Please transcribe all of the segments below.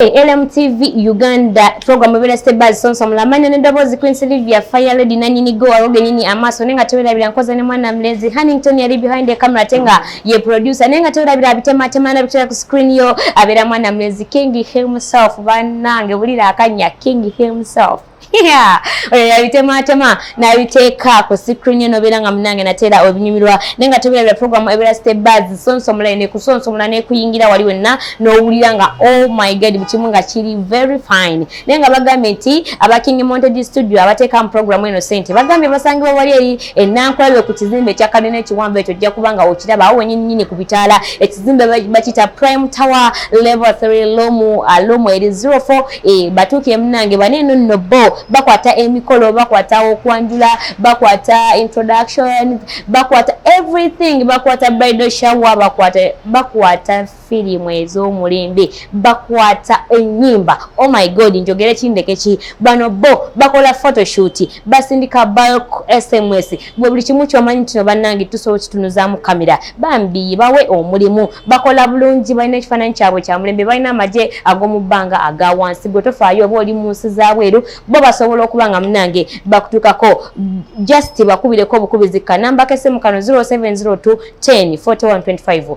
LMTV Uganda program ebera stebaz sonso mulamanya ne dobozi Queen Sylvia Fire Lady nanyini go aroge nyini amaso nenga tewera bila nkoza ne mwana mlezi Hannington yali behind the camera tenga ye producer nenga tewera bila bitema tema na bitera ku screen yo abera mwana mlezi King himself banange bulira akanya King himself oyo yabitemaatema nabiteeka ku sikrini nobeera nga munange nateera obinyumirwa naye nga tebirabira programu ebeera stebas sonsomula ene kusonsomula nekuyingira wali wenna nowulira nga oh my god bukimu nga kiri very fine naye nga bagambye nti aba king montage studio abateeka mu programu eno sente bagambye basangibwa wali eri enankulabye ku kizimbe ekyakalina ekiwamba ekyo ojja kuba nga okiraba awo wenyinyini ku bitaala ekizimbe bakita prime tower level 3 lomu uh, lomu eri 04 Eh, batuuka emunange bane eno nno bo bakwata emikolo bakwata okwanjula bakwata introduction bakwata everything bakwata bridal shower bakwata bakwata firimu ez'omulembe bakwata ennyimba oh my god njogere kindeke ki bano bo bakola photoshoot basindika bulk sms gwe buli kimu kyomanyi kino bannange tusobola okitunuzamu kamera bambi bawe omulimu bakola bulungi balina ekifaananyi kyabwe kyamulembe balina amagye ag'omu bbanga aga wansi gwe tofaayo oba oli mu nsi zabweru bo basobola okuba nga munange bakutuukako just bakubireko obukubizi kanamba kesemu kano 0702 10 4125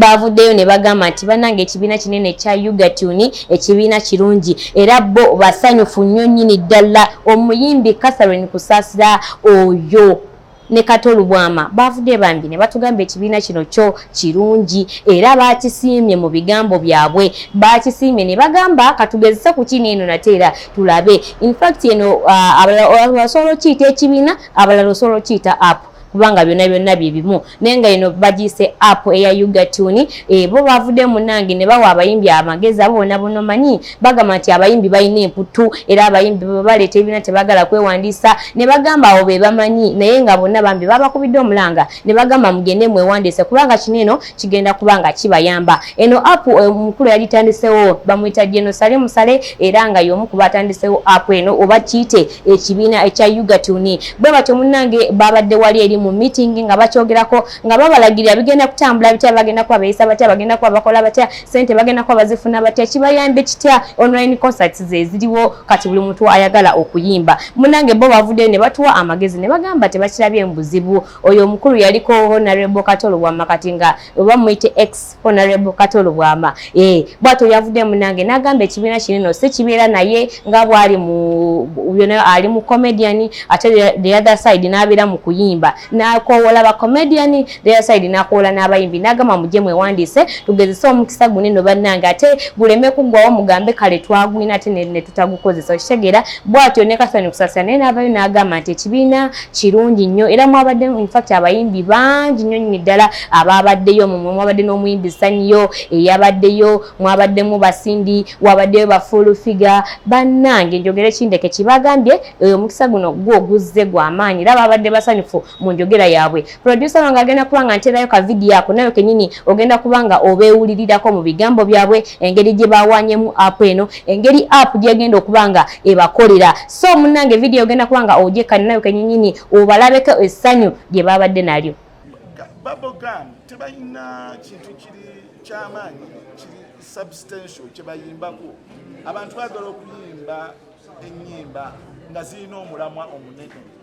baavuddeyo ne bagamba nti bannange ekibiina kinene ekya ugatuni ekibiina kirungi era bo basanyufu nnyo nnyini ddala omuyimbi catherine kusaasira oyo ne kato lubwama baavudde bambi ne batugamba ekibiina kino kyo kirungi era baakisiimye mu bigambo byabwe baakisiimye ne bagamba katugezese ku kino eno nate era tulabe infact eno uh, abalala osobola okiyita ekibiina abalala osobola okiyita apu kubanga byonna byonna bye bimu naye nga ino bagiyise app eya ugatuni e, bo bavudde munange ne bawa abayimbi amagezi abo bona bona omanyi bagamba nti abayimbi balina emputtu era abayimbi bebaleeta ebina tebagala kwewandiisa ne bagamba awo be bamanyi naye nga bonna bambi babakubidde omulanga ne bagamba mugende mwewandiise kubanga kino eno kigenda kuba nga kibayamba eno app eh, omukulu yalitandisewo bamuyita genosale musale era nga yomu kuba atandisewo app eno oba kiyite ekibiina ekya ugatuni bwe batyo munnange babadde wali eri mu meeting nga bakyogerako nga babalagirira bigenda kutambula bitya bagenda kuba beyisa batya bagenda kuba bakola batya sente bagenda kuba bazifuna batya kibayambe kitya online concerts zeziriwo kati buli muntu ayagala okuyimba munnange bo bavuddeyo ne batuwa amagezi ne bagamba tebakirabye mu buzibu oyo omukulu yaliko honorable kato lubwama kati nga oba muyite ex honorable kato lubwama eh, bwato yavudde munange nagamba ekibiina kinino si kibeera naye nga bwali ali mu comedian ate the other side nabeera mu kuyimba nakowola ba comedian the other side nakowola n'abayimbi nagamba muje mwewandiise tugezese omukisa gunino bannange ate guleme kuggwawo mugambe kale twagwina ate netutagukozesa okitegeera bwatyo ne kasani kusasira naye navayo nagamba nti ekibiina kirungi nnyo era mwabadde infact abayimbi bangi nnyo nyini ddala abaabaddeyo mumwe mwabadde n'omuyimbi sanyiyo eyabaddeyo mwabaddemu basindi wabaddeyo bafull figure bannange njogere kindeke kibagambye oyo omukisa guno gwo oguzze gwamaanyi era baabadde basanyufu mu njogera yaabwe producer wange agenda kuba nga nterayo ka video ako nayo kenyini ogenda kuba nga obeewulirirako mu bigambo byabwe engeri gye bawanyemu app eno engeri app gyegenda okuba nga ebakolera so munnange video ogenda kuba nga ogyekani nayo kenyini obalabeko essanyu lye babadde nalyo babogam tebalina kintu kiri kyamaanyi kiri substantial kyebayimbako abantu bagala okuyimba enyimba nga zirina omulamwa omunene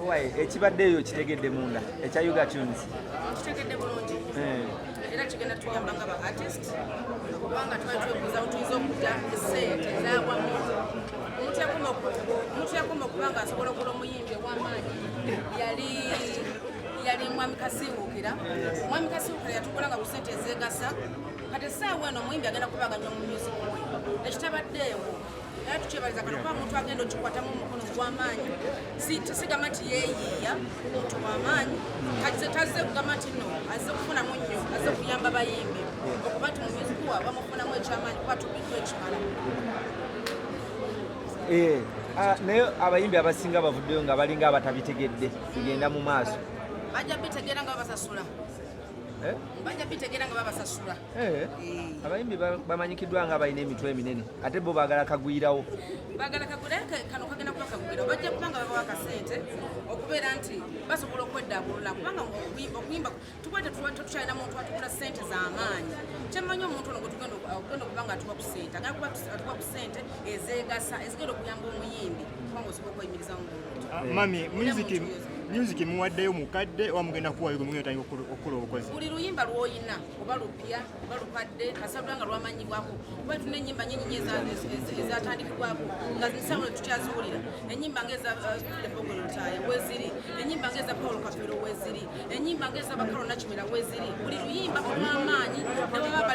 Owaye ekibadde eyo kitegedde munda ekya Yuga Tunes. Kitegedde bulungi. Eh. Era kigenda tuyamba nga ba artist kubanga twali twebuuza utuyinza okudda esente ezawamu omuntu yakoma okuba nga asobola okula omuyimbi ow'amaanyi yali yali mwami kasiwuukira mwami kasiwuukira yatukola nga ku sente ezeegasa kati essaawa eno omuyimbi agenda kuba aganya mu music we ekitabaddeewo era tukyebaliza kano kuba muntu agenda okikwatamu omukono gwamaanyi sigamba nti yeyiiya muntu wamaanyi kati tazze kugamba nti no azze kufunamu nnyo azze kuyamba bayimbi okuba nti mumyuziku wa bamufunamu ekyamaanyi kuba tubiddwa ekimala eh, ah, naye abayimbi abasinga bavuddeyo nga balinga abatabitegedde kugenda mu maaso bajja bitegeera nga babasasula eh? bajja bitegeera nga babasasula Eh, abayimbi bamanyikiddwa nga balina emitwe eminene ate bo bagala kagwirawo bagala kagwirawo kano kagenda kuba kagwirawo bajja kuba nga babawa akasente okubeera nti basobola okweddabulula kubanga okuyimba tuba tetukyalina muntu atukula sente z'amaanyi kyemmanyi omuntu ono gwetugenda okuba nga atuwa ku sente agenda kuba atuwa ku sente ezegasa ezigenda okuyamba omuyimbi kubanga osobola okweyimiriza mu muntu ah, mami muziki music muwaddeyo mukadde oba mugenda kuwayo gwe mugenda otandika okukola obukozi buli luyimba lwoyina oba lupya oba lukadde kasabula nga lwamanyibwako kuba tulina enyimba nyinyi ezatandikibwako nga zisawo tetutyaziwulira enyimba nga eza lepogolo uh, lutaaya weziri enyimba nga eza paul kafero weziri enyimba nga eza bakalo nakimera weziri buli luyimba olwamaanyi newaba